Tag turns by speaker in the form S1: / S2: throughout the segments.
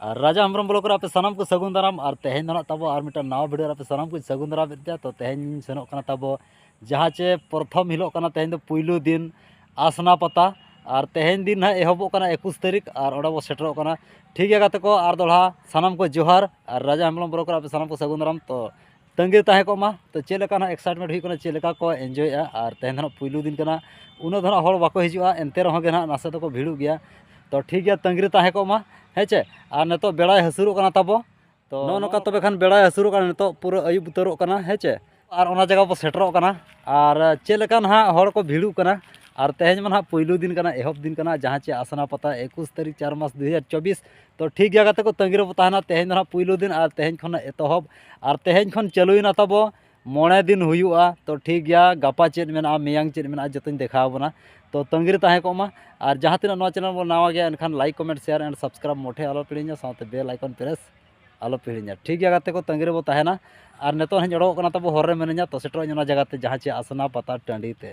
S1: ᱟᱨ ᱨᱟᱡᱟ ᱦᱮᱢᱵᱨᱚᱢ ᱵᱞᱚᱠ ᱨᱮ ᱟᱯᱮ ᱥᱟᱱᱟᱢ ᱠᱚ ᱥᱟᱹᱜᱩᱱ ᱫᱟᱨᱟᱢ ᱟᱨ ᱛᱮᱦᱮᱧ ᱫᱚ ᱱᱟᱜ ᱛᱟᱵᱚ ᱟᱨ ᱢᱤᱫᱴᱟᱝ ᱱᱟᱣᱟ ᱵᱷᱤᱰᱤᱭᱳ ᱨᱮ ᱟᱯᱮ ᱥᱟᱱᱟᱢ ᱠᱚ ᱥᱟᱹᱜᱩᱱ ᱫᱟᱨᱟᱢ ᱮᱫ ᱯᱮᱭᱟ ᱛᱚ ᱛᱮᱦᱮᱧ ᱥᱮᱱᱚᱜ ᱠᱟᱱᱟ ᱛᱟᱵᱚ ᱡᱟᱦᱟᱸ ᱪᱮ ᱯᱨᱚᱛᱷᱚᱢ ᱦᱤᱞᱳᱜ ᱠᱟᱱᱟ ᱛᱮᱦᱮᱧ ᱫᱚ ᱯᱩᱭᱞᱩ ᱫᱤᱱ ᱟᱥᱱᱟ ᱯᱟᱛᱟ ᱟᱨ ᱛᱮᱦᱮᱧ ᱫᱤᱱ ᱱᱟᱜ ᱮᱦᱚᱵᱚᱜ ᱠᱟᱱᱟ ᱮᱠᱩᱥ ᱛᱟᱹᱨᱤᱠᱷ ᱟᱨ ᱚᱸᱰᱮ ᱵᱚ ᱥᱮᱴᱮᱨᱚᱜ ᱠᱟᱱᱟ ᱴᱷᱤᱠ ᱜᱮᱭᱟ ᱜᱟᱛᱮ ᱠᱚ ᱟᱨ ᱫᱚᱦᱲᱟ ᱥᱟᱱᱟᱢ ᱠᱚ ᱡᱚᱦᱟᱨ ᱟᱨ ᱨᱟᱡᱟ ᱦᱮᱢᱵᱨᱚᱢ ᱵᱞᱚᱠ ᱨᱮ ᱟᱯᱮ ᱥᱟᱱᱟᱢ ᱠᱚ ᱥᱟᱹᱜᱩᱱ ᱫᱟᱨᱟᱢ ᱛᱚ ᱛᱟᱺᱜᱤᱨᱮ ᱛᱟᱦᱮᱸ ᱠᱚᱜ ᱢᱟ ᱛᱚ ᱪᱮᱫ ᱞᱮᱠᱟ ᱱᱟᱦᱟᱜ ᱮᱠᱥᱟᱭᱤᱴᱢᱮᱱᱴ ᱦᱩᱭᱩᱜ ᱠᱟᱱᱟ ᱪᱮᱫ ᱞᱮᱠᱟ ᱠᱚ ᱤᱱᱡᱚᱭᱮᱜᱼᱟ ᱟᱨ ᱛᱮᱦᱮᱧ ᱫᱚ ᱱᱟᱦᱟᱜ ᱯᱩᱭᱞᱩ ᱫᱤᱱ ᱠᱟᱱᱟ ᱩᱱᱟᱹᱜ ᱫᱚ ᱱᱟᱦᱟᱜ ᱦᱚᱲ ᱵᱟᱠᱚ ᱦᱤᱡᱩᱜᱼᱟ ᱮᱱᱛᱮ ᱨᱮᱦᱚᱸ ᱜᱮ ᱱᱟᱦᱟᱜ ᱱᱟᱥᱮ ᱫᱚᱠᱚ ᱵᱷᱤᱲᱚᱜ ᱜᱮᱭᱟ ᱛᱚ ᱴᱷᱤᱠ ᱜᱮᱭᱟ ᱛᱟᱺᱜᱤᱨᱮ ᱛᱟᱦᱮᱸ ᱠᱚᱜ ᱢᱟ ᱦᱮᱸ ᱪᱮ ᱟᱨ ᱱᱤᱛᱚᱜ ᱵᱮᱲᱟᱭ ᱦᱟᱹᱥᱩᱨᱚᱜ ᱠᱟᱱᱟ ᱛᱟᱵᱚ ᱛᱚ ᱱᱚᱜᱼᱚ ᱱᱚᱝᱠᱟ ᱛᱚᱵᱮ ᱠᱷᱟᱱ ᱵᱮᱲᱟᱭ ᱦᱟᱹᱥᱩᱨᱚᱜ ᱠᱟᱱᱟ ᱱᱤᱛᱚᱜ ᱯᱩᱨᱟᱹ ᱟᱹᱭᱩᱵ ᱩᱛᱟᱹᱨᱚᱜ ᱠᱟᱱᱟ ᱦᱮᱸ ᱪᱮ ᱟᱨ ᱚᱱᱟ ᱡᱟᱭᱜᱟ ᱵᱚ ᱥᱮᱴᱮᱨᱚᱜ ᱠᱟᱱᱟ ᱟᱨ ᱪᱮᱫ ᱞᱮᱠᱟ ᱱᱟᱦᱟᱜ ᱦᱚᱲ ᱠᱚ ᱵᱷᱤᱲᱚᱜ ᱠᱟᱱᱟ ᱟᱨ ᱛᱮᱦᱮᱧ ᱢᱟ ᱱᱟᱦᱟᱜ ᱯᱩᱭᱞᱩ ᱫᱤᱱ ᱠᱟᱱᱟ ᱮᱦᱚᱵ ᱫᱤᱱ ᱠᱟᱱᱟ ᱡᱟᱦᱟᱸ ᱪᱮ ᱟᱥᱱᱟ ᱯᱟᱛᱟ ᱮᱠᱩᱥ ᱛᱟᱹᱨᱤᱠᱷ ᱪᱟᱨ ᱢᱟᱥ ᱫᱩ ᱦᱟᱡᱟᱨ ᱪᱚᱵᱵᱤᱥ ᱛᱚ ᱴᱷᱤᱠ ᱜᱮᱭᱟ ᱜᱟᱛᱮ ᱠᱚ ᱛᱟᱺᱜᱤ ᱨᱮᱵᱚ ᱛᱟᱦᱮᱱᱟ ᱛᱮᱦᱮᱧ ᱫᱚ ᱦᱟᱸᱜ ᱯᱩᱭᱞᱩ ᱫᱤᱱ ᱟᱨ ᱛᱮᱦᱮᱧ ᱠᱷᱚᱱ ᱮᱛᱚᱦᱚᱵ ᱟᱨ ᱛᱮᱦᱮᱧ ᱠᱷᱚᱱ ᱪᱟᱹᱞᱩᱭᱮᱱᱟ ᱛᱟᱵᱚ ᱢᱚᱬᱮ ᱫᱤᱱ ᱦᱩᱭᱩᱜᱼᱟ ᱛᱚ ᱴᱷᱤᱠ ᱜᱮᱭᱟ ᱜᱟᱯᱟ ᱪᱮᱫ ᱢᱮᱱᱟᱜᱼᱟ ᱢᱮᱭᱟᱝ ᱪᱮᱫ ᱢᱮᱱᱟᱜᱼᱟ ᱡᱚᱛᱚᱧ ᱫᱮᱠᱷᱟᱣ ᱟᱵᱚᱱᱟ ᱛᱚ ᱛᱟᱺᱜᱤ ᱨᱮ ᱛᱟᱦᱮᱸ ᱠᱚᱜ ᱢᱟ ᱟᱨ ᱡᱟᱦᱟᱸ ᱛᱤᱱᱟᱹᱜ ᱱᱚᱣᱟ ᱪᱮᱱᱮᱞ ᱵᱚᱱ ᱱᱟᱣᱟ ᱜᱮᱭᱟ ᱮᱱᱠᱷᱟᱱ like comment share and subscribe ᱢᱚᱴᱷᱮ ᱟᱞᱚ ᱯᱮ ᱦᱤᱲᱤᱧᱟ ᱥᱟᱶᱛᱮ ᱵᱮᱞ ᱟᱭᱠᱚᱱ ᱯᱨᱮᱥ ᱟᱞᱚ ᱯᱮ ᱦᱤᱲᱤᱧᱟ ᱴᱷᱤᱠ ᱜᱮᱭᱟ ᱜᱟᱛᱮ ᱠᱚ ᱛᱟᱺᱜᱤ ᱨᱮᱵᱚ ᱛᱟᱦᱮᱱᱟ ᱟᱨ ᱱᱤᱛᱚᱜ ᱦᱟᱸᱜ ᱤᱧ ᱚᱰᱚᱠᱚᱜ ᱠᱟᱱᱟ ᱛᱟᱵᱚ ᱦᱚᱨ ᱨᱮ ᱢᱤᱱᱟᱹᱧᱟ ᱛᱚ ᱥᱮᱴᱮᱨᱚᱜ ᱟᱹᱧ ᱚᱱᱟ ᱡᱟᱭᱜᱟ ᱛᱮ ᱡᱟᱦᱟᱸ ᱪᱮ ᱟᱥᱱᱟ ᱯᱟᱛᱟ ᱴᱟᱺᱰᱤ ᱛᱮ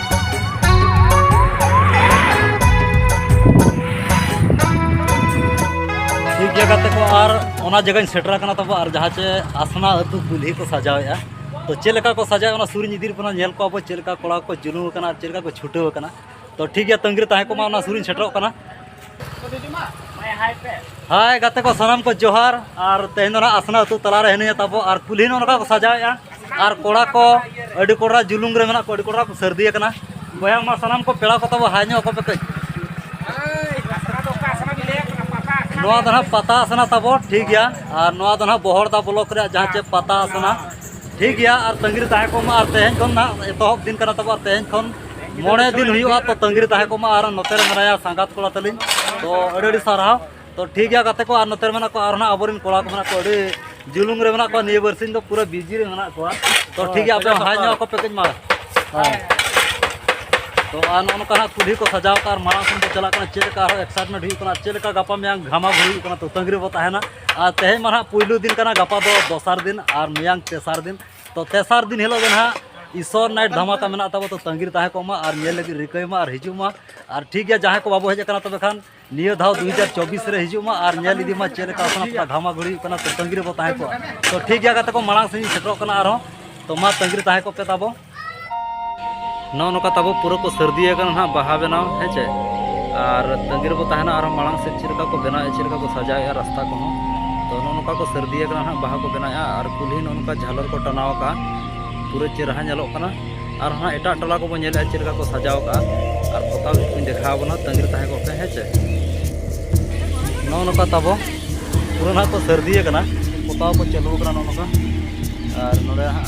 S1: ᱴᱷᱤᱠ ᱡᱟᱭᱜᱟ ᱛᱮᱠᱚ ᱟᱨ ᱚᱱᱟ ᱡᱟᱭᱜᱟᱧ ᱥᱮᱴᱮᱨ ᱟᱠᱟᱱᱟ ᱛᱟᱵᱚ ᱟᱨ ᱡᱟᱦᱟᱸ ᱪᱮ ᱟᱥᱱᱟ ᱟᱹᱛᱩ ᱠᱩᱞᱦᱤ ᱠᱚ ᱥᱟᱡᱟᱣᱮᱜᱼᱟ ᱛᱚ ᱪᱮᱫ ᱞᱮᱠᱟ ᱠᱚ ᱥᱟᱡᱟᱣᱮᱜᱼᱟ ᱚᱱᱟ ᱥᱩᱨᱤᱧ ᱤᱫᱤ ᱵᱚᱱᱟ ᱧᱮᱞ ᱠᱚᱣᱟ ᱵᱚ ᱪᱮᱫ ᱞᱮᱠᱟ ᱠᱚᱲᱟ ᱠᱚ ᱡᱩᱞᱩᱢ ᱟᱠᱟᱱᱟ ᱟᱨ ᱪᱮᱫ ᱞᱮᱠᱟ ᱠᱚ ᱪᱷᱩᱴᱟᱹᱣ ᱟᱠᱟᱱᱟ ᱛᱚ ᱴᱷᱤᱠ ᱜᱮᱭᱟ ᱛᱟᱺᱜᱤ ᱨᱮ ᱛᱟᱦᱮᱸ ᱠᱚᱜ ᱢᱟ ᱚᱱᱟ ᱥᱩᱨᱤᱧ ᱥᱮᱴᱮᱨᱚᱜ ᱠᱟᱱᱟ ᱦᱟᱭ ᱜᱟᱛᱮ ᱠᱚ ᱥᱟᱱᱟᱢ ᱠᱚ ᱡᱚᱦᱟᱨ ᱟᱨ ᱛᱮᱦᱮᱧ ᱫᱚ ᱱᱟᱜ ᱟᱥᱱᱟ ᱟᱹᱛᱩ ᱛᱟᱞᱟᱨᱮ ᱦᱤᱱᱟᱹᱧᱟ ᱛᱟᱵᱚ ᱟᱨ ᱠᱩᱞᱦᱤ ᱱᱚᱜᱼᱚ ᱱᱚᱝᱠᱟ ᱠᱚ ᱥᱟᱡᱟᱣᱮᱜᱼᱟ ᱟᱨ ᱠᱚᱲᱟ ᱠᱚ ᱟᱹᱰᱤ ᱠᱚᱲᱟ ᱡᱩᱞᱩᱝ ᱨᱮ ᱢᱮᱱᱟᱜ ᱠᱚ ᱟᱹᱰᱤ ᱠᱚᱲᱟ ᱠᱚ ᱥᱟᱹᱨᱫᱤ ᱟᱠᱟᱱᱟ ᱵᱚᱭᱦᱟ ᱢᱟ ᱥᱟᱱᱟᱢ ᱠᱚ ᱯᱮᱲᱟ ᱠᱚ ᱛᱟᱵᱚ ᱦᱟᱭ ᱧᱚᱜ ᱟᱠᱚ ᱯᱮ ᱠᱟᱹᱡ ᱱᱚᱣᱟ ᱫᱚ ᱱᱟᱜ ᱯᱟᱛᱟ ᱟᱥᱱᱟ ᱛᱟᱵᱚ ᱴᱷᱤᱠ ᱜᱮᱭᱟ ᱟᱨ ᱱᱚᱣᱟ ᱫᱚ ᱱᱟᱜ ᱵᱚᱦᱚᱲᱫᱟ ᱵᱞᱚᱠ ᱨᱮᱭᱟᱜ ᱡᱟᱦᱟᱸ ᱪᱮᱫ ᱯᱟᱛᱟ ᱟᱥᱱᱟ ᱴᱷᱤᱠ ᱜᱮᱭᱟ ᱟᱨ ᱛᱟᱺᱜᱤ ᱨᱮ ᱛᱟᱦᱮᱸ ᱠᱚᱜ ᱢᱟ ᱟᱨ ᱛᱮᱦᱮᱧ ᱠᱷᱚᱱ ᱱᱟᱜ ᱮᱛᱚᱦᱚᱵ ᱫᱤᱱ ᱠᱟᱱᱟ ᱛᱟᱵᱚ ᱟᱨ ᱛᱮᱦᱮᱧ ᱠᱷᱚᱱ ᱢᱚᱬᱮ ᱫᱤᱱ ᱦᱩᱭᱩᱜᱼᱟ ᱛᱚ ᱛᱟᱺᱜᱤ ᱨᱮ ᱛᱟᱦᱮᱸ ᱠᱚᱜ ᱢᱟ ᱟᱨ ᱱᱚᱛᱮ ᱨᱮ ᱢᱮᱱᱟᱭᱟ ᱥᱟᱸᱜᱟᱛ ᱠᱚᱲᱟ ᱛᱟᱹᱞᱤᱧ ᱛᱚ ᱟᱹᱰᱤ ᱟᱹᱰᱤ ᱥᱟᱨᱦᱟᱣ ᱛᱚ ᱴᱷᱤᱠ ᱜᱮᱭᱟ ᱜᱟᱛᱮ ᱠᱚ ᱟᱨ ᱱᱚᱛᱮ ᱨᱮ ᱢᱮᱱᱟᱜ ᱠᱚᱣᱟ ᱟᱨ ᱱᱟᱜ ᱟᱵᱚᱨᱮᱱ ᱠᱚᱲᱟ ᱠᱚ ᱢᱮᱱᱟᱜ ᱠᱚᱣᱟ ᱟᱹᱰᱤ ᱡᱩᱞᱩᱢ ᱨᱮ ᱢᱮᱱᱟᱜ ᱠᱚᱣᱟ ᱱᱤᱭᱟᱹ ᱵᱟᱨᱥᱤᱧ ᱫᱚ ᱯᱩᱨᱟᱹ ᱵᱤᱡᱤ ᱨᱮ ᱢᱮᱱᱟᱜ ᱠᱚᱣᱟ ᱛᱚ ᱴᱷᱤᱠ ᱜᱮᱭᱟ ᱟᱯᱮ ᱦᱟᱭ ᱧᱚᱜ ᱟᱠᱚ ᱯᱮ ᱠᱟᱹᱡ ᱢᱟ ᱛᱚ ᱟᱨ ᱱᱚᱜᱼᱚ ᱱᱚᱝᱠᱟ ᱦᱟᱸᱜ ᱠᱩᱞᱦᱤ ᱠᱚ ᱥᱟᱡᱟᱣ ᱠᱟᱜᱼᱟ ᱟᱨ ᱢᱟᱲᱟᱝ ᱥᱮᱱ ᱠᱚ ᱪᱟᱞᱟᱜ ᱠᱟᱱᱟ ᱪᱮᱫ ᱞᱮᱠᱟ ᱟᱨᱦᱚᱸ ᱮᱠᱥᱟᱭᱴᱢᱮᱱᱴ ᱦᱩᱭᱩᱜ ᱠᱟᱱᱟ ᱪᱮᱫ ᱞᱮᱠᱟ ᱜᱟᱯᱟ ᱢᱮᱭᱟᱝ ᱜᱷᱟᱢᱟ ᱜᱷᱩᱨ ᱦᱩᱭᱩᱜ ᱠᱟᱱᱟ ᱛᱚ ᱛᱟᱺᱜᱤ ᱨᱮᱵᱚ ᱛᱟᱦᱮᱱᱟ ᱟᱨ ᱛᱮᱦᱮᱧ ᱢᱟ ᱦᱟᱸᱜ ᱯᱩᱭᱞᱩ ᱫᱤᱱ ᱠᱟᱱᱟ ᱜᱟᱯᱟ ᱫᱚ ᱫᱚᱥᱟᱨ ᱫᱤᱱ ᱟᱨ ᱢᱮᱭᱟᱝ ᱛᱮᱥᱟᱨ ᱫᱤᱱ ᱛᱚ ᱛᱮᱥᱟᱨ ᱫᱤᱱ ᱦᱤᱞᱳᱜ ᱜᱮ ᱱᱟᱦᱟᱜ ᱤᱥᱚᱨ ᱱᱟᱭᱤᱴ ᱫᱷᱟᱢᱟᱠᱟ ᱢᱮᱱᱟᱜ ᱛᱟᱵᱚ ᱛᱚ ᱛᱟᱺᱜᱤ ᱨᱮ ᱛᱟᱦᱮᱸ ᱠᱚᱜ ᱢᱟ ᱟᱨ ᱧᱮᱞ ᱞᱟᱹᱜᱤᱫ ᱨᱤᱠᱟᱹᱭ ᱢᱟ ᱟᱨ ᱦᱤᱡᱩᱜ ᱢᱟ ᱟᱨ ᱴᱷᱤᱠ ᱜᱮᱭᱟ ᱡᱟᱦᱟᱸᱭ ᱠᱚ ᱵᱟᱵᱚ ᱦᱮᱡ ᱟᱠᱟᱱᱟ ᱛᱚᱵᱮ ᱠᱷᱟᱱ ᱱᱤᱭᱟᱹ ᱫᱷᱟᱣ ᱫᱩ ᱦᱟᱡᱟᱨ ᱪᱚᱵᱵᱤᱥ ᱨᱮ ᱦᱤᱡᱩᱜ ᱢᱟ ᱟᱨ ᱧᱮᱞ ᱤᱫᱤ ᱢᱟ ᱪᱮᱫ ᱞᱮᱠᱟ ᱟᱥᱱᱟ ᱯᱟᱛᱟ ᱜᱷᱟᱢᱟ ᱜᱷᱩᱲᱤ ᱦᱩᱭᱩᱜ ᱠᱟᱱᱟ ᱛᱚ ᱛᱟᱺᱜᱤ ᱨᱮᱵᱚ ᱛᱟᱦᱮᱸ ᱠᱚᱜᱼᱟ ᱛᱚ ᱴᱷᱤᱠ ᱜᱮᱭᱟ ᱜᱟᱛᱮ ᱠᱚ ᱢᱟᱲᱟᱝ ᱥᱮᱫ ᱤᱧ ᱥᱮᱴᱮᱨᱚᱜ ᱠᱟᱱᱟ ᱟᱨᱦᱚᱸ ᱛᱚ ᱢᱟ ᱛᱟᱺᱜᱤ ᱨᱮ ᱛᱟᱦᱮᱸ ᱠᱚᱜ ᱯᱮ ᱛᱟᱵᱚ ᱱᱚᱜᱼᱚ ᱱᱚᱝᱠᱟ ᱛᱟᱵᱚ ᱯᱩᱨᱟᱹ ᱠᱚ ᱥᱟᱹᱨᱫᱤ ᱟᱠᱟᱱᱟ ᱱᱟᱦᱟᱜ ᱵᱟᱦᱟ ᱵᱮᱱᱟᱣ ᱦᱮᱸ ᱪᱮ ᱟᱨ ᱛᱟᱺᱜᱤ ᱨᱮᱵᱚ ᱛᱟᱦᱮᱱᱟ ᱟᱨᱦᱚᱸ ᱢᱟᱲᱟᱝ ᱥᱮᱫ ᱪᱮᱫ ᱞᱮᱠᱟ ᱠᱚ ᱵᱮᱱᱟᱣᱮᱫᱼᱟ ᱪᱮᱫ ᱞᱮᱠᱟ ᱠᱚ ᱥᱟᱡᱟᱣᱮᱫᱼᱟ ᱨᱟᱥᱛᱟ ᱠᱚᱦᱚᱸ ᱛᱚ ᱱᱚᱜᱼᱚ ᱱᱚᱝᱠᱟ ᱠᱚ ᱥᱟᱹᱨᱫᱤ ᱟᱠᱟᱱᱟ ᱱᱟᱦᱟᱜ ᱵᱟᱦᱟ ᱠᱚ ᱵᱮᱱᱟᱣᱮᱫᱼᱟ ᱟᱨ ᱠᱩᱞᱦᱤ ᱱᱚᱜᱼᱚ ᱱᱚᱝᱠᱟ ᱡᱷᱟᱞᱚᱨ ᱠᱚ ᱴᱟᱱᱟᱣ ᱟᱠᱟᱫᱼᱟ ᱯᱩᱨᱟᱹ ᱪᱮᱨᱦᱟ ᱧᱮᱞᱚᱜ ᱠᱟᱱᱟ ᱟᱨ ᱦᱟᱸᱜ ᱮᱴᱟᱜ ᱴᱚᱞᱟ ᱠᱚᱵᱚ ᱧᱮᱞᱮᱫᱼᱟ ᱪᱮᱫ ᱞᱮᱠᱟ ᱠᱚ ᱥᱟᱡᱟᱣ ᱟᱠᱟᱫᱼᱟ ᱟᱨ ᱯᱚᱛᱟᱣ ᱵᱷᱤᱛ ᱠᱚᱧ ᱫᱮᱠᱷᱟᱣ ᱟᱵᱚᱱᱟ ᱛᱟᱺᱜᱤ ᱨᱮ ᱛᱟᱦᱮᱸ ᱠᱚᱜ ᱯᱮ ᱦᱮᱸ ᱪᱮ ᱱᱚᱜᱼᱚ ᱱᱚᱝᱠᱟ ᱛᱟᱵᱚ ᱯᱩᱨᱟᱹ ᱱᱟᱦᱟᱜ ᱠᱚ ᱥᱟᱹᱨᱫᱤ ᱟᱠᱟᱱᱟ ᱯᱚᱛᱟᱣ ᱠᱚ ᱪᱟᱹᱞᱩ ᱟᱠᱟᱱᱟ ᱱᱚᱜᱼᱚ ᱱᱚᱝᱠᱟ ᱟᱨ ᱱᱚᱰᱮ ᱦᱟᱸᱜ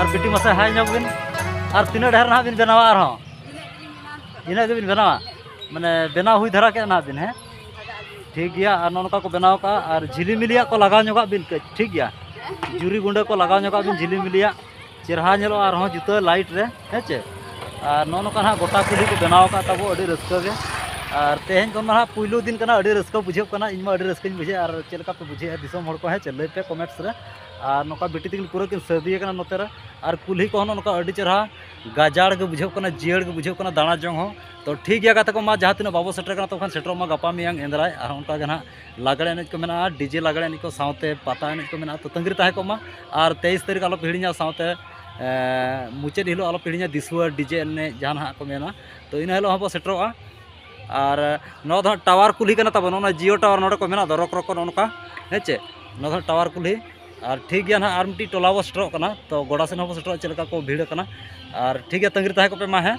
S1: ᱟᱨ ᱵᱤᱴᱤ ᱢᱟᱥᱮ ᱦᱟᱭ ᱧᱚᱜ ᱵᱤᱱ ᱟᱨ ᱛᱤᱱᱟᱹᱜ ᱰᱷᱮᱨ ᱱᱟᱦᱟᱜ ᱵᱤᱱ ᱵᱮᱱᱟᱣᱟ ᱟᱨᱦᱚᱸ ᱤᱱᱟᱹᱜ ᱜᱮᱵᱤᱱ ᱵᱮᱱᱟᱣᱟ ᱢᱟᱱᱮ ᱵᱮᱱᱟᱣ ᱦᱩᱭ ᱫᱷᱟᱨᱟ ᱠᱮᱫ ᱱᱟᱦᱟᱜ ᱵᱤᱱ ᱦᱮᱸ ᱴᱷᱤᱠ ᱜᱮᱭᱟ ᱟᱨ ᱱᱚᱝᱠᱟ ᱠᱚ ᱵᱮᱱᱟᱣ ᱠᱟᱜᱼᱟ ᱟᱨ ᱡᱷᱤᱞᱤᱢᱤᱞᱤᱭᱟᱜ ᱠᱚ ᱞᱟᱜᱟᱣ ᱧᱚᱜᱟᱜ ᱵᱤᱱ ᱠᱟᱹᱡ ᱴᱷᱤᱠ ᱜᱮᱭᱟ ᱡᱩᱨᱤ ᱜᱩᱸᱰᱟᱹ ᱠᱚ ᱞᱟᱜᱟᱣ ᱧᱚᱜᱟᱜ ᱵᱤᱱ ᱡᱷᱤᱞᱤᱢᱤᱞᱤᱭᱟᱜ ᱪᱮᱨᱦᱟ ᱧᱮᱞᱚᱜᱼᱟ ᱟᱨᱦᱚᱸ ᱡᱩᱛᱟᱹ ᱞᱟᱭᱤᱴ ᱨᱮ ᱦᱮᱸ ᱪᱮ ᱟᱨ ᱱᱚᱜᱼᱚ ᱱᱚᱝᱠᱟ ᱱᱟᱦᱟᱜ ᱜᱚᱴᱟ ᱠᱩᱞᱦᱤ ᱠᱚ ᱵᱮᱱᱟᱣ ᱟᱠᱟᱫ ᱛᱟᱵᱚ ᱟᱹᱰᱤ ᱨᱟᱹᱥᱠᱟᱹ ᱜᱮ ᱟᱨ ᱛᱮᱦᱮᱧ ᱫᱚ ᱱᱟᱦᱟᱜ ᱯᱩᱭᱞᱩ ᱫᱤᱱ ᱠᱟᱱᱟ ᱟᱹᱰᱤ ᱨᱟᱹᱥᱠᱟᱹ ᱵᱩᱡᱷᱟᱹᱜ ᱠᱟᱱᱟ ᱤᱧᱢᱟ ᱟᱹᱰᱤ ᱨᱟᱹᱥᱠᱟᱹᱧ ᱵᱩᱡᱷᱟᱹᱣᱮᱫᱼᱟ ᱟᱨ ᱪᱮᱫ ᱞᱮᱠᱟ ᱯᱮ ᱵᱩᱡᱷᱟᱹᱣᱮᱫᱼᱟ ᱫᱤᱥᱚᱢ ᱦᱚᱲ ᱠᱚ ᱦᱮᱸ ᱪᱮ ᱞᱟᱹᱭ ᱯᱮ ᱠᱚᱢᱮᱱᱴᱥ ᱨᱮ ᱟᱨ ᱱᱚᱝᱠᱟ ᱵᱤᱴᱤ ᱛᱟᱹᱠᱤᱱ ᱯᱩᱨᱟᱹ ᱠᱤᱱ ᱥᱟᱹᱨᱫᱤ ᱟᱠᱟᱱᱟ ᱱᱚᱛᱮ ᱨᱮ ᱟᱨ ᱠᱩᱞᱦᱤ ᱠᱚᱦᱚᱸ ᱱᱚᱜᱼᱚᱸᱭ ᱱᱚᱝᱠᱟ ᱟᱹᱰᱤ ᱪᱮᱦᱨᱟ ᱜᱟᱡᱟᱲ ᱜᱮ ᱵᱩᱡᱷᱟᱹᱜ ᱠᱟᱱᱟ ᱡᱤᱭᱟᱹᱲ ᱜᱮ ᱵᱩᱡᱷᱟᱹᱜ ᱠᱟᱱᱟ ᱫᱟᱬᱟ ᱡᱚᱝ ᱦᱚᱸ ᱛᱚ ᱴᱷᱤᱠ ᱜᱮᱭᱟ ᱜᱟᱛᱮ ᱠᱚ ᱢᱟ ᱡᱟᱦᱟᱸ ᱛᱤᱱᱟᱹᱜ ᱵᱟᱵᱚ ᱥᱮᱴᱮᱨ ᱠᱟᱱᱟ ᱛᱚᱠᱷᱚᱱ ᱥᱮᱴᱮᱨᱚᱜ ᱢᱟ ᱜᱟᱯᱟ ᱢᱮᱭᱟᱝ ᱮᱱᱫᱨᱟᱭ ᱟᱨ ᱚᱱᱠᱟ ᱜᱮ ᱦᱟᱸᱜ ᱞᱟᱜᱽᱬᱮ ᱮᱱᱮᱡ ᱠᱚ ᱢᱮᱱᱟᱜᱼᱟ ᱰᱤᱡᱮ ᱞᱟᱜᱽᱬᱮ ᱮᱱᱮᱡ ᱠᱚ ᱥᱟᱶᱛᱮ ᱯᱟᱛᱟ ᱮᱱᱮᱡ ᱠᱚ ᱢᱮᱱᱟᱜᱼᱟ ᱛᱚ ᱛᱟᱹᱜᱤ ᱨᱮ ᱛᱟᱦᱮᱸ ᱠᱚᱜ ᱢᱟ ᱟᱨ ᱛᱮᱭᱤᱥ ᱛᱟᱹᱨᱤᱠᱷ ᱟᱞᱚ ᱯᱮ ᱦᱤᱲᱤᱧᱟ ᱥᱟᱶᱛᱮ ᱢᱩᱪᱟᱹᱫ ᱦᱤᱞᱳᱜ ᱟᱞᱚ ᱯᱮ ᱦᱤᱲᱤᱧᱟ ᱫᱤᱥᱩᱣᱟᱹ ᱰᱤᱡᱮ ᱮᱱᱮᱡ ᱡᱟᱦᱟᱸ ᱱᱟᱦᱟᱜ ᱠᱚ ᱢᱮᱱᱟ ᱛᱚ ᱤᱱᱟᱹ ᱦᱤᱞᱳᱜ ᱦᱚᱸᱵᱚ ᱥᱮᱴᱮᱨᱚᱜᱼᱟ ᱟᱨ ᱱᱚᱣᱟ ᱫᱚ ᱦᱟᱸᱜ ᱴᱟᱣᱟᱨ ᱠᱩᱞᱦᱤ ᱠᱟᱱᱟ ᱛᱟᱵᱚᱱ ᱱᱚᱜᱼᱚᱸᱭ ᱡᱤᱭᱳ ᱴᱟᱣᱟᱨ ᱱᱚᱰᱮ ᱠᱚ ᱢᱮᱱᱟᱜ ᱫᱚ ᱨᱚᱠ ᱨᱚᱠ ᱠᱚ ᱱᱚᱜᱼᱚᱸᱭ ᱱᱚᱝᱠᱟ ᱦᱮᱸ ᱪᱮ ᱱᱚᱣᱟ ᱫᱚ ᱦᱟᱸᱜ ᱴᱟᱣᱟᱨ ᱠᱩᱞᱦᱤ ᱟᱨ ᱴᱷᱤᱠ ᱜᱮᱭᱟ ᱦᱟᱸᱜ ᱟᱨ ᱢᱤᱫᱴᱤᱡ ᱴᱚᱞᱟ ᱵᱚᱱ ᱥᱮᱴᱮᱨᱚᱜ ᱠᱟᱱᱟ ᱛᱚ ᱜᱚᱰᱟ ᱥᱮᱫ ᱦᱚᱸ ᱵᱚᱱ ᱥᱮᱴᱮᱨᱚᱜᱼᱟ ᱪᱮᱫ ᱞᱮᱠᱟ ᱠᱚ ᱵᱷᱤᱲ ᱠᱟᱱᱟ ᱟᱨ ᱴᱷᱤᱠ ᱜᱮᱭᱟ ᱛᱟᱺᱜᱤ ᱨᱮ ᱛᱟᱦᱮᱸ ᱠᱚᱜ ᱯᱮ ᱢᱟ ᱦᱮᱸ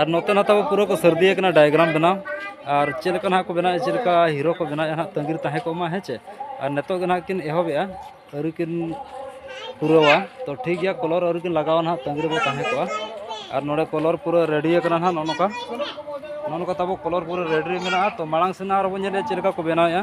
S1: ᱟᱨ ᱱᱚᱛᱮ ᱱᱟᱛᱮ ᱯᱩᱨᱟᱹ ᱠᱚ ᱥᱟᱹᱨᱫᱤ ᱟᱠᱟᱱᱟ ᱰᱟᱭᱜᱨᱟᱢ ᱵᱮᱱᱟᱣ ᱟᱨ ᱪᱮᱫ ᱞᱮᱠᱟ ᱱᱟᱦᱟᱜ ᱠᱚ ᱵᱮᱱᱟᱣᱮᱫᱼᱟ ᱪᱮᱫ ᱞᱮᱠᱟ ᱦᱤᱨᱳ ᱠᱚ ᱵᱮᱱᱟᱣᱮᱫᱼᱟ ᱱᱟᱦᱟᱜ ᱛᱟᱺᱜᱤᱨ ᱛᱟᱦᱮᱸ ᱠᱚᱜ ᱢᱟ ᱦᱮᱸ ᱪᱮ ᱟᱨ ᱱᱤᱛᱚᱜ ᱜᱮ ᱱᱟᱦᱟᱜ ᱠᱤᱱ ᱮᱦᱚᱵᱮᱜᱼᱟ ᱟᱹᱣᱨᱤ ᱠᱤᱱ ᱯᱩᱨᱟᱹᱣᱟ ᱛᱚ ᱴᱷᱤᱠ ᱜᱮᱭᱟ ᱠᱚᱞᱚᱨ ᱟᱹᱣᱨᱤ ᱠᱤᱱ ᱞᱟᱜᱟᱣᱟ ᱱᱟᱦᱟᱜ ᱛᱟᱺᱜᱤ ᱨᱮᱵᱚ ᱛᱟᱦᱮᱸ ᱠᱚᱜᱼᱟ ᱟᱨ ᱱᱚᱰᱮ ᱠᱚᱞᱚᱨ ᱯᱩᱨᱟᱹ ᱨᱮᱰᱤ ᱟᱠᱟᱱᱟ ᱱᱟᱦᱟᱜ ᱱᱚᱜᱼᱚ ᱱᱚᱝᱠᱟ ᱱᱚᱜᱼᱚ ᱱᱚᱝᱠᱟ ᱛᱟᱵᱚ ᱠᱚᱞᱚᱨ ᱯᱩᱨᱟᱹ ᱨᱮᱰᱤ ᱢᱮᱱᱟᱜᱼᱟ ᱛᱚ ᱢᱟᱲᱟᱝ ᱥᱮᱱᱟᱜ ᱟᱨᱵᱚᱱ ᱧᱮᱞᱮᱫᱼᱟ ᱪᱮᱫ ᱞᱮᱠᱟ ᱠᱚ ᱵᱮᱱᱟᱣᱮᱫᱼᱟ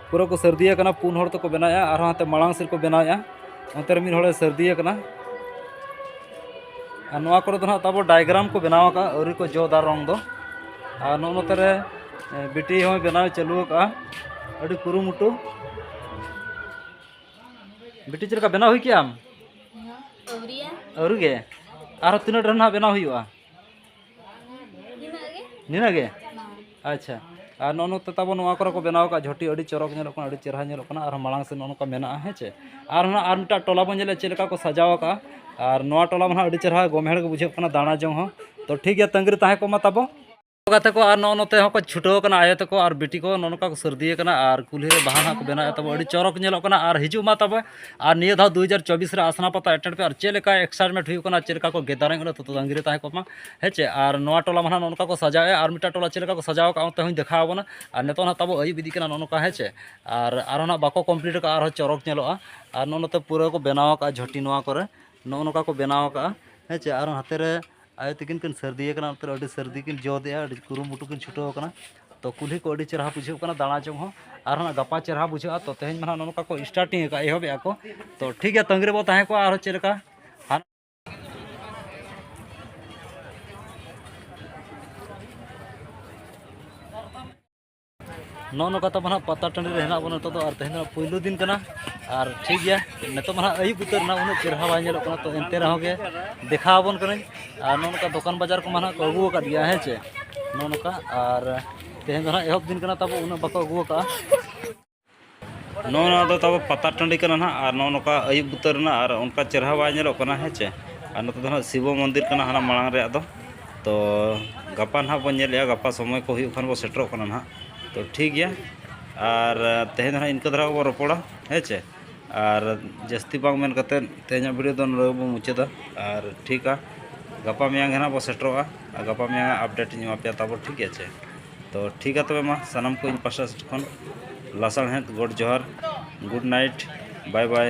S1: ᱯᱩᱨᱟᱹ ᱠᱚ ᱥᱟᱹᱨᱫᱤ ᱟᱠᱟᱱᱟ ᱯᱩᱱ ᱦᱚᱲ ᱛᱮᱠᱚ ᱵᱮᱱᱟᱣᱮᱜᱼᱟ ᱟᱨᱦᱚᱸ ᱦᱟᱱᱛᱮ ᱢᱟᱲᱟᱝ ᱥᱮᱫ ᱠᱚ ᱵᱮᱱᱟᱣᱮᱜᱼᱟ ᱚᱱᱛᱮ ᱨᱮ ᱢᱤᱫ ᱦᱚᱲᱮ ᱥᱟᱹᱨᱫᱤ ᱟᱠᱟᱱᱟ ᱟᱨ ᱱᱚᱣᱟ ᱠᱚᱨᱮ ᱫᱚ ᱱᱟᱦᱟᱜ ᱛᱟᱵᱚ ᱰᱟᱭᱜᱨᱟᱢ ᱠᱚ ᱵᱮᱱᱟᱣ ᱟᱠᱟᱫᱼᱟ ᱟᱹᱣᱨᱤ ᱠᱚ ᱡᱚᱫᱟ ᱨᱚᱝ ᱫᱚ ᱟᱨ ᱱᱚᱜᱼᱚ ᱱᱚᱛᱮ ᱨᱮ ᱵᱤᱴᱤ ᱦᱚᱸᱭ ᱵᱮᱱᱟᱣ ᱪᱟᱹᱞᱩ ᱟᱠᱟᱫᱼᱟ ᱟᱹᱰᱤ ᱠᱩᱨᱩᱢᱩᱴᱩ ᱵᱤᱴᱤ ᱪᱮᱫ ᱞᱮᱠᱟ ᱵᱮᱱᱟᱣ ᱦᱩᱭ ᱠᱮᱜᱼᱟᱢ ᱟᱹᱣᱨᱤ ᱜᱮ ᱟᱨᱦᱚᱸ ᱛᱤᱱᱟᱹᱜ ᱰᱷᱮᱨ ᱱᱟᱦᱟᱜ ᱵᱮᱱᱟᱣ ᱦᱩᱭᱩᱜᱼᱟ ᱱᱤᱱᱟᱹᱜ ᱜᱮ ᱟᱪᱪᱷᱟ ᱟᱨ ᱱᱚᱜᱼᱚ ᱱᱚᱛᱮ ᱛᱟᱵᱚᱱ ᱱᱚᱣᱟ ᱠᱚᱨᱮ ᱠᱚ ᱵᱮᱱᱟᱣ ᱟᱠᱟᱫ ᱡᱷᱚᱴᱤ ᱟᱹᱰᱤ ᱪᱚᱨᱚᱠ ᱧᱮᱞᱚᱜ ᱠᱟᱱᱟ ᱟᱹᱰᱤ ᱪᱮᱦᱨᱟ ᱧᱮᱞᱚᱜ ᱠᱟᱱᱟ ᱟᱨ ᱢᱟᱲᱟᱝ ᱥᱮᱫ ᱱᱚᱜᱼᱚ ᱱᱚᱝᱠᱟ ᱢᱮᱱᱟᱜᱼᱟ ᱦᱮᱸ ᱪᱮ ᱟᱨ ᱦᱚᱸ ᱟᱨ ᱢᱤᱫᱴᱟᱝ ᱴᱚᱞᱟ ᱵᱚᱱ ᱧᱮᱞᱮᱫ ᱪᱮᱫ ᱞᱮᱠᱟ ᱠᱚ ᱥᱟᱡᱟᱣ ᱟᱠᱟᱫᱼᱟ ᱟᱨ ᱱᱚᱣᱟ ᱴᱚᱞᱟ ᱢᱟ ᱟᱹᱰᱤ ᱪᱮᱦᱨᱟ ᱜᱚᱢᱦᱮᱲ ᱜᱮ ᱵᱩᱡᱷᱟᱹᱜ ᱠᱟᱱᱟ ᱫᱟᱬᱟ ᱡᱚᱝ ᱦᱚᱸ ᱛᱚ ᱴᱷᱤᱠ ᱜᱮᱭᱟ ᱛᱟᱺᱜᱤ ᱨᱮ ᱛᱟᱦᱮᱸ ᱠᱚᱜ ᱢᱟ ᱛᱟᱵᱚ ᱜᱟᱛᱮ ᱠᱚ ᱟᱨ ᱱᱚᱜᱼᱚ ᱱᱚᱛᱮ ᱦᱚᱸᱠᱚ ᱪᱷᱩᱴᱟᱹᱣ ᱟᱠᱟᱱᱟ ᱟᱭᱳ ᱛᱟᱠᱚ ᱟᱨ ᱵᱤᱴᱤ ᱠᱚ ᱱᱚᱜᱼᱚ ᱱᱚᱝᱠᱟ ᱠᱚ ᱥᱟᱹᱨᱫᱤ ᱟᱠᱟᱱᱟ ᱟᱨ ᱠᱩᱞᱦᱤ ᱨᱮ ᱵᱟᱦᱟ ᱦᱟᱸᱜ ᱠᱚ ᱵᱮᱱᱟᱣᱮᱫ ᱛᱟᱵᱚᱱᱟ ᱟᱹᱰᱤ ᱪᱚᱨᱚᱠ ᱧᱮᱞᱚᱜ ᱠᱟᱱᱟ ᱟᱨ ᱦᱤᱡᱩᱜ ᱢᱟ ᱛᱟᱵᱚ ᱟᱨ ᱱᱤᱭᱟᱹ ᱫᱷᱟᱣ ᱫᱩ ᱦᱟᱡᱟᱨ ᱪᱚᱵᱵᱤᱥ ᱨᱮ ᱟᱥᱱᱟ ᱯᱟᱛᱟ ᱮᱴᱮᱱᱰ ᱯᱮ ᱟᱨ ᱪᱮᱫ ᱞᱮᱠᱟ ᱮᱠᱥᱟᱭᱤᱴᱢᱮᱱᱴ ᱦᱩᱭᱩᱜ ᱠᱟᱱᱟ ᱪᱮᱫ ᱞᱮᱠᱟ ᱠᱚ ᱜᱮᱫᱟᱨᱤᱝ ᱚᱸᱰᱮ ᱛᱚᱛᱚ ᱛᱟᱺᱜᱤ ᱨᱮ ᱛᱟᱦᱮᱸ ᱠᱚᱜ ᱢᱟ ᱦᱮᱸ ᱪᱮ ᱟᱨ ᱱᱚᱣᱟ ᱴᱚᱞᱟ ᱢᱟ ᱱᱟᱦᱟᱜ ᱱᱚᱜᱼᱚ ᱱᱚᱝᱠᱟ ᱠᱚ ᱥᱟᱡᱟᱣᱮᱫᱼᱟ ᱟᱨ ᱢᱤᱫᱴᱟᱝ ᱴᱚᱞᱟ ᱪᱮᱫ ᱞᱮᱠᱟ ᱠᱚ ᱥᱟᱡᱟᱣ ᱠᱟᱜᱼᱟ ᱚᱱᱛᱮ ᱦᱚᱧ ᱫᱮᱠᱷᱟᱣ ᱟᱵᱚᱱᱟ ᱟᱨ ᱱᱤᱛᱚᱜ ᱱᱟᱦᱟᱜ ᱛᱟᱵᱚ ᱟᱹᱭᱩᱵ ᱤᱫᱤᱜ ᱠᱟᱱᱟ ᱱᱚᱜᱼᱚ ᱱᱚᱝᱠᱟ ᱦᱮᱸ ᱪᱮ ᱟᱨ ᱟᱨᱦᱚᱸ ᱱᱟᱦᱟᱜ ᱵᱟᱠᱚ ᱠᱚᱢᱯᱞᱤᱴ ᱠᱟᱜᱼᱟ ᱟᱨᱦᱚᱸ ᱪᱚᱨᱚᱠ ᱧᱮᱞᱚᱜᱼᱟ ᱟᱨ ᱱᱚᱜᱼᱚ ᱱᱚᱛᱮ ᱯᱩᱨᱟᱹ ᱠᱚ ᱵᱮᱱᱟᱣ ᱠᱟᱜᱼᱟ ᱡᱷᱚᱴᱤ ᱱᱚᱣᱟ ᱠᱚᱨᱮ ᱱᱚᱜᱼᱚ ᱱᱚᱝᱠᱟ ᱠᱚ ᱵᱮᱱᱟᱣ ᱠᱟᱜᱼᱟ ᱦᱮᱸ ᱪᱮ ᱟᱨ ᱦᱟᱱᱛᱮ ᱨᱮ ᱟᱭᱳ ᱛᱤᱠᱤᱱ ᱠᱤᱱ ᱥᱟᱹᱨᱫᱤ ᱟᱠᱟᱱᱟ ᱚᱱᱛᱮ ᱨᱮ ᱟᱹᱰᱤ ᱥᱟᱹᱨᱫᱤ ᱠᱤᱱ ᱡᱚ ᱫᱮᱜᱼᱟ ᱟᱹᱰᱤ ᱠᱩᱨᱩᱢᱩᱴᱩ ᱠᱤᱱ ᱪᱷᱩᱴᱟᱹᱣ ᱟᱠᱟᱱᱟ ᱛᱚ ᱠᱩᱞᱦᱤ ᱠᱚ ᱟᱹᱰᱤ ᱪᱮᱦᱨᱟ ᱵᱩᱡᱷᱟᱹᱜ ᱠᱟᱱᱟ ᱫᱟᱬᱟ ᱡᱚᱝ ᱦᱚᱸ ᱟᱨ ᱦᱟᱸᱜ ᱜᱟᱯᱟ ᱪᱮᱦᱨᱟ ᱵᱩᱡᱷᱟᱹᱜᱼᱟ ᱛᱚ ᱛᱮᱦᱮᱧ ᱢᱟ ᱦᱟᱸᱜ ᱱᱚᱝᱠᱟ ᱠᱚ ᱥᱴᱟᱨᱴᱤᱝ ᱟᱠᱟᱫᱼᱟ ᱮᱦᱚᱵ ᱮᱫᱼᱟ ᱠᱚ ᱛᱚ ᱴᱷᱤᱠ ᱜᱮᱭᱟ ᱛᱟᱺᱜᱤ ᱨᱮᱵᱚ ᱛᱟᱦᱮᱸ ᱠᱚᱜᱼᱟ ᱟᱨᱦᱚᱸ ᱪᱮᱫ ᱞᱮᱠᱟ ᱱᱚᱜᱼᱚ ᱱᱚᱝᱠᱟ ᱛᱟᱵᱚᱱ ᱦᱟᱸᱜ ᱯᱟᱛᱟ ᱴᱟᱺᱰᱤ ᱨᱮ ᱦᱮᱱᱟᱜ ᱵᱚᱱᱟ ᱱᱤᱛᱚᱜ ᱫᱚ ᱟᱨ ᱛᱮᱦᱮᱧ ᱫᱚ ᱯᱩᱭᱞᱩ ᱫᱤᱱ ᱠᱟᱱᱟ ᱟᱨ ᱴᱷᱤᱠ ᱜᱮᱭᱟ ᱱᱤᱛᱚᱜ ᱢᱟ ᱦᱟᱸᱜ ᱟᱹᱭᱩᱵ ᱩᱛᱟᱹᱨ ᱮᱱᱟ ᱩᱱᱟᱹᱜ ᱪᱮᱦᱨᱟ ᱵᱟᱭ ᱧᱮᱞᱚᱜ ᱠᱟᱱᱟ ᱛᱚ ᱮᱱᱛᱮ ᱨᱮᱦᱚᱸ ᱜᱮ ᱫᱮᱠᱷᱟᱣ ᱟᱵᱚᱱ ᱠᱟᱹᱱᱟᱹᱧ ᱟᱨ ᱱᱚᱜᱼᱚ ᱱᱚᱝᱠᱟ ᱫᱚᱠᱟᱱ ᱵᱟᱡᱟᱨ ᱠᱚᱢᱟ ᱦᱟᱸᱜ ᱠᱚ ᱟᱹᱜᱩ ᱟᱠᱟᱫ ᱜᱮᱭᱟ ᱦᱮᱸ ᱪᱮ ᱱᱚᱜᱼᱚ ᱱᱚᱝᱠᱟ ᱟᱨ ᱛᱮᱦᱮᱧ ᱫᱚ ᱦᱟᱸᱜ ᱮᱦᱚᱵ ᱫᱤᱱ ᱠᱟᱱᱟ ᱛᱟᱵᱚ ᱩᱱᱟᱹᱜ ᱵᱟᱠᱚ ᱟᱹᱜᱩ ᱟᱠᱟᱫᱼᱟ ᱱᱚᱜᱼᱚ ᱱᱚᱣᱟ ᱫᱚ ᱛᱟᱵᱚ ᱯᱟᱛᱟ ᱴᱟᱺᱰᱤ ᱠᱟᱱᱟ ᱱᱟᱦᱟᱜ ᱟᱨ ᱱᱚᱜᱼᱚ ᱱᱚᱝᱠᱟ ᱟᱹᱭᱩᱵ ᱩᱛᱟᱹᱨ ᱮᱱᱟ ᱟᱨ ᱚᱱᱠᱟ ᱪᱮᱦᱨᱟ ᱵᱟᱭ ᱧᱮᱞᱚᱜ ᱠᱟᱱᱟ ᱦᱮᱸ ᱪᱮ ᱟᱨ ᱱᱚᱛᱮ ᱫᱚ ᱱᱟᱦᱟᱜ ᱥᱤᱵᱚ ᱢᱚᱱᱫᱤᱨ ᱠᱟᱱᱟ ᱦᱟᱱᱟ ᱢᱟᱲᱟᱝ ᱨᱮᱭᱟᱜ ᱫᱚ ᱛᱚ ᱜᱟᱯᱟ ᱱᱟᱦᱟᱜ ᱵᱚᱱ ᱧᱮᱞᱮᱜᱼᱟ ᱜᱟᱯᱟ ᱥᱚᱢᱚᱭ ᱠᱚ ᱦᱩᱭᱩᱜ ᱠᱷᱟᱱ ᱵᱚᱱ ᱥᱮᱴᱮᱨᱚᱜ ᱠᱟᱱᱟ ᱱᱟᱦᱟᱜ ᱛᱚ ᱴᱷᱤᱠ ᱜᱮᱭᱟ ᱟᱨ ᱛᱮᱦᱮᱧ ᱫᱚ ᱱᱟᱦᱟᱜ ᱤᱱᱠᱟᱹ ᱫᱷᱟᱨᱟ ᱜᱮᱵᱚᱱ ᱨᱚᱯᱚᱲᱟ ᱦᱮᱸ ᱪᱮ ᱟᱨ ᱡᱟᱹᱥᱛᱤ ᱵᱟᱝ ᱢᱮᱱ ᱠᱟᱛᱮᱫ ᱛᱮᱦᱮᱧᱟᱜ ᱵᱷᱤᱰᱤᱭᱳ ᱫᱚ ᱱᱚᱰᱮ ᱜᱮᱵᱚᱱ ᱢᱩᱪᱟᱹᱫᱟ ᱟᱨ ᱴᱷᱤᱠᱟ ᱜᱟᱯᱟ ᱢᱮᱭᱟᱝ ᱜᱮ ᱱᱟᱦᱟᱜ ᱵᱚᱱ ᱥᱮᱴᱮᱨᱚᱜᱼᱟ ᱟᱨ ᱜᱟᱯᱟ ᱢᱮᱭᱟᱝ ᱟᱜ ᱟᱯᱰᱮᱴ ᱤᱧ ᱮᱢᱟ ᱯᱮᱭᱟ ᱛᱟᱵᱚ ᱴᱷᱤᱠ ᱟᱪᱷᱮ ᱛᱚ ᱴᱷᱤᱠ ᱜᱮᱭᱟ ᱛᱚᱵᱮ ᱢᱟ ᱥᱟᱱᱟᱢ ᱠᱚ ᱤᱧ ᱯᱟᱥᱴᱟ ᱥᱮᱫ ᱠᱷᱚᱱ ᱞᱟᱥᱟᱬᱦᱮᱫ ᱜᱚᱰ ᱡᱚᱦᱟᱨ ᱜᱩᱰ ᱱᱟᱭᱤᱴ ᱵᱟᱭ ᱵᱟᱭ